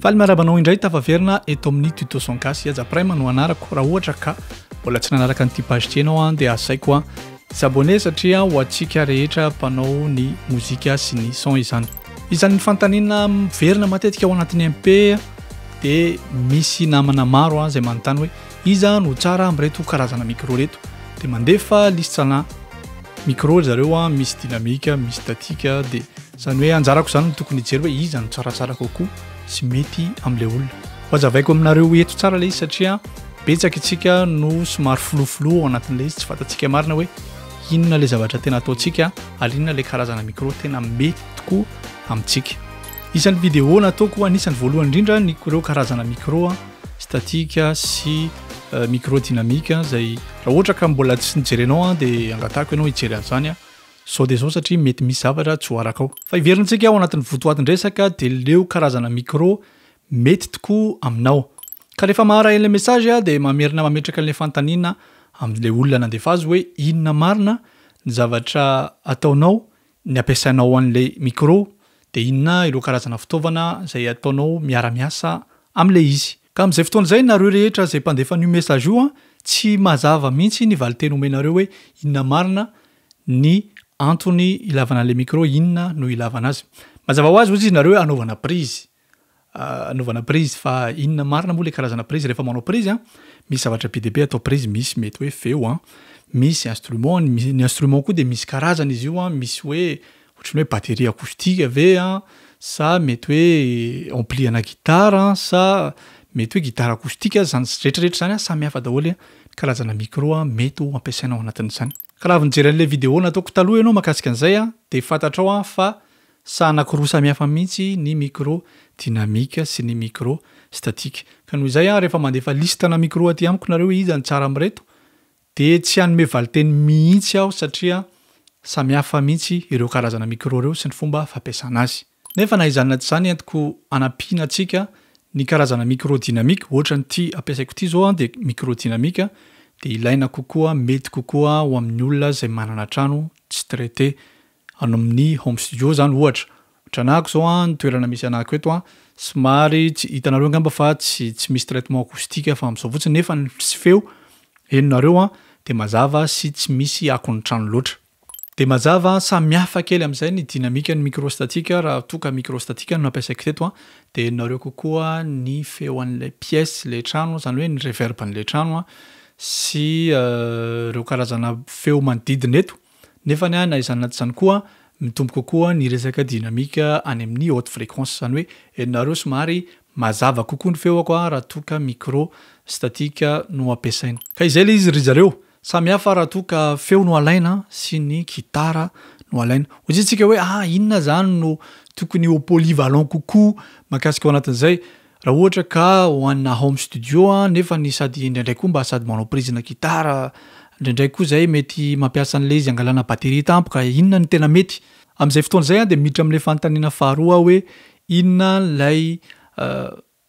Faly miarahaba anao indray tafaverina eto amin'ny tuto son gasy Aja Prime no anarako raha ohatra ka mbola tsy nanaraka an'ity page ity ianao an dia asaiko an s'abonner satria ho antsika rehetra mpanao ny mozika sy ny son izany izany ny fanontaniana miverina matetika ao anatin'ny MP dia misy namana maro an izay manontany hoe iza no tsara amin'ireto karazana micro reto dia mandefa liste-na micro ry zareo an misy dynamique misy statique dia Izany hoe anjarako izany no tokony hijery hoe iza no tsaratsara kokoa sy mety amin'ilay olona. Ho hazavaiko aminareo eto tsara ilay izy satria betsaka itsika no somary filofiloha ao anatin'ilay izy, tsy fantatsika marina hoe inona ilay zavatra tena ataontsika ary inona ilay karazana micro tena mety tokoa amintsika. Isan'ny vidéo nataoko anisan'ny voalohany indrindra ny ireo karazana micro statique sy euh, micro dynamique izay raha ohatra ka mbola tsy nijerenao dia angatahako ianao hijery an'izany Zao dia zao satria mety misy zavatra tsy ho arakao. Fa heverintsika ao anatin'ny votoatin-dresaka dia leo karazana micro mety tokoa aminao. Ka rehefa maharaha ilay message aho dia mamerina mametraka ilay fanontaniana amin'ilay olona nandefa azy hoe inona marina ny zavatra ataonao ny ampiasainao an'ilay micro dia inona ireo karazana fitaovana izay ataonao miara-miasa amin'ilay izy. Ka amin'izay fotoana izay nareo rehetra izay mpandefa an'io message io an, tsy mazava mihitsy ny valinteny omenareo hoe inona marina ny antony ilavana le micro inona no ilavana azy mazava ho azy ozy izy nareo anaovana prizy ah, anaovana prizy fa inona marina moa le karazana prizy rehefa manao prizy a ah, misy zavatra be dia be atao prizy misy mety hoe feo a ah. misy instrument ny instrument koa dia misy karazana izy io a misy hoe ohatrany hoe batterie acoustique ve a sa mety hoe ampli ana gitara sa mety hoe gitara acoustique azy zany retraretra zany a samy hafa daholo a karazana micro a mety ho ampiasaina ao anatin'izany Ka raha avy nijery an'ilay vidéo nataoko taloha ianao mahakasika an'izay an, dia fantatrao an fa saha anankiroa samihafa mihitsy ny micro dynamique sy ny micro statique. Ka noho izay an, rehefa mandefa listana micro aty amiko nareo hoe iza ny tsara amin'ireto, dia tsy hanome valinteny mihitsy aho satria samihafa mihitsy ireo karazana micro ireo sy ny fomba fampiasana azy. Nefa na izany na tsy izany entiko anampiana antsika ny karazana micro dynamique ohatra ny ity ampiasaiko ity zao an dia micro dynamique dia ilaina kokoa mety kokoa ho amin'ny olona izay manana trano tsy traité any amin'ny home studio izany ohatra ohatra anahako zao an ny toerana misy anahako eto an somary tsy hitanareo angamba fa tsy tsy misy traitement acoustique fa amin'izao fotsiny nefa ny feo henonareo an dia mazava sy tsy misy akon'ny trano loatra. Dia mazava, samy hafa kely amin'izay ny dinamikan'ny microstatique raha toa ka microstatique no nampiasaiko teto an, dia henonareo kokoa ny feon'ilay pièce, ilay trano, izany hoe ny reverbn'ilay trano an, sy ireo karazana feo manodidina eto. Nefany an, na izany na tsy izany koa, mitombo kokoa ny resaka dynamique any amin'ny haute fréquence, izany hoe henonareo somary mazava kokoa ny feoko raha toa ka microstatique no ampiasaina. Ka izay ilay izy ry zareo, Samy hafa raha toa ka feo no alaina sy ny gitara no alaina. Ho jerentsika hoe ah inona izany no tokony ho polyvalent kokoa mahakasika ao anatin'izay. Raha ohatra ka ho anà home studio nefa ny sady indraindray koa mba sady manao prise na gitara, indraindray koa izay mety mampiasa an'ilay izy hangalana batterie tampoka, inona no tena mety? Amin'izay fotoana izay aho dia miditra amin'ilay fanontaniana faharoa aho hoe inona ilay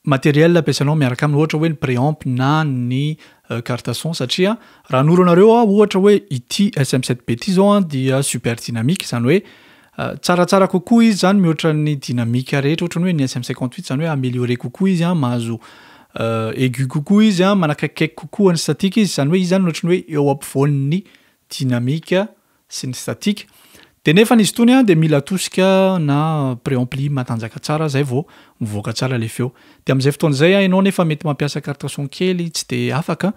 matériel ampiasainao miaraka aminy ohatra hoe ny préamp na ny carte son satria raha hanoro anareo aho ohatra hoe ity SM7B ity zao dia super dynamique izany hoe tsaratsara kokoa izy zany mihoatra ny dynamique rehetra ohatra ny hoe ny SM58 izany hoe amélioré kokoa izy an mahazo aigu kokoa izy an manakaikikaiky kokoa ny statique izy izany hoe izy zany ohatra ny hoe eo ampovoan'ny dynamique sy ny statique de nefany izy tony de mila tosika na préampli matanjaka tsara zay vao mivoaka tsara le feo de amzay fotoana zay a enao nefa mety mampiasa carte son kely tsy de afaka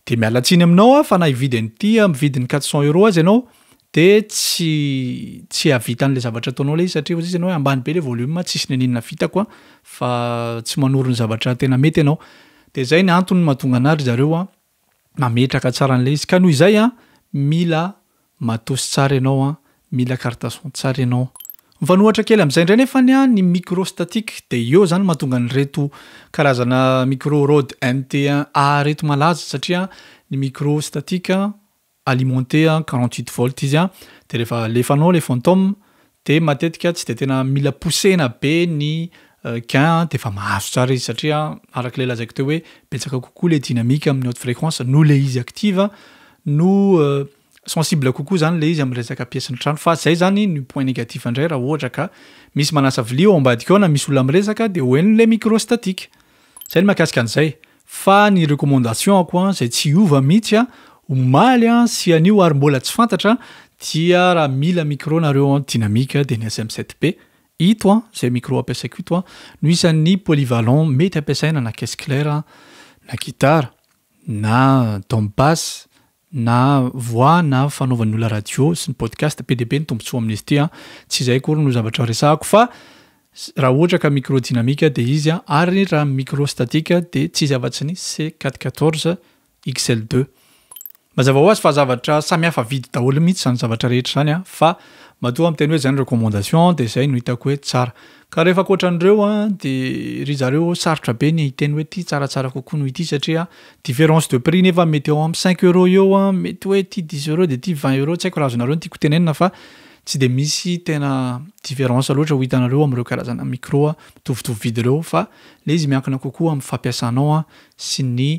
de miala tsiny aminao a fa na hividy an'ity am vidiny quatre cent euro aza enao de tsy tsy hahavita anle zavatra ataonao le izy satria ozizy enao oe ambany be le volume tsisy nininona vitako a fa tsy manoro ny zavatra tena mety enao de zay ny antony mahatonga anah ry zareo a. mametraka tsara an'ilay izy ka noho izay an mila matos tsara ianao an mila carte son tsara ianao mifanohatra kely amin'izay indray nefa ny an ny micro statique dia eo izany mahatonga an'ireto karazana micro rode MT1A ireto malaza satria ny micro statique alimenté à 48 volts izy an, de rehefa alefanao le fantom de matetika tsy de tena mila poussena be ny gain an de efa mahazo tsara izy satria araka le lazaiko teo hoe betsaka kokoa le dynamique amin'ny haute fréquence noho le izy active no sensible kokoa zany le izy amin'ny resaka pièce ny trano fa zay zany ny point négatif indray raha ohatra ka misy manasa vilia ao ambadika ao na misy olona miresaka de ho henony le micro statique zay ny makasika an'izay Fa ny recommandation-ko an, izay tsy hiova mihitsy an, omaly an, sy anio ary mbola tsy fantatra an, dia raha mila micro nareo an, dynamique dia ny SM 7 P, ito an, izay micro ampiasaiko ito an, no isan'ny polyvalent mety ampiasaina na caisse claire an, na guitare, na dom basse, na voix na fanaovan'ny olona radio sy ny podcast be dia be ny tombotsoa amin'izy ity an, tsy izay akory no zavatra resahako fa raha ohatra ka micro dynamique dia izy an, ary raha micro statique dia tsy izy afa-tsy ny C quatre quatorze XL deux. Mazava ho azy fa zavatra samy hafa vidy daholo mihitsy izany zavatra rehetra izany an, fa matoa miteny hoe izay ny recommandation dia izay no hitako hoe tsara. Ka rehefa ankoatran'ireo dia ry zareo sarotra be ny hiteny hoe ity tsaratsara kokoa noho ity satria différence de prix nefa mety eo amin'ny cinq euros eo mety hoe ity dix euros dia ity vingt euros tsy haiko raha azonareo ny tiako tenenina fa tsy dia misy tena différence loatra ho hitanareo amin'ireo karazana micro mitovitovy vidy ireo fa ilay izy miankina kokoa amin'ny fampiasanao sy ny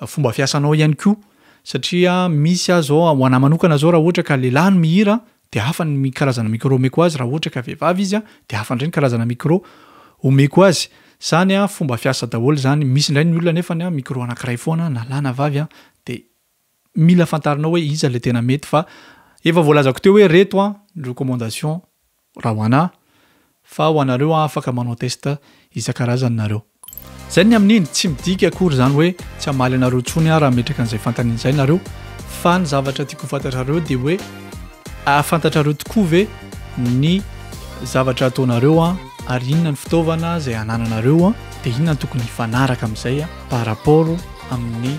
fomba fiasanao ihany koa satria misy aza izao ho anahy manokana izao raha ohatra ka lehilahy no mihira dia hafa ny mi karazana micro omeko azy raha ohatra ka vehivavy izy dia hafa indray ny karazana micro omeko azy zany a fomba fiasa daholo izany misy indray ny olona nefany a micro anakiray foana na lahy na vavy a dia mila fantarinao hoe iza ilay tena mety fa efa voalazako teo hoe reto a ny recommandation raha ho anah Fa ho anareo an afaka manao test isan-karazany nareo. Zay ny amin'iny, tsy midika akory izany hoe tsy hamaly anareo intsony aho raha metraka an'izay fantany an'izay nareo, fa ny zavatra tiako ho fantatrareo dia hoe ahafantatrareo tokoa ve ny zavatra ataonareo an ary inona ny fitaovana izay anananareo an dia inona ny tokony hifanaraka amin'izay an par rapport amin'ny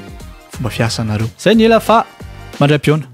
fomba fiasanareo. Zay ny ela fa mandray am-pihaona.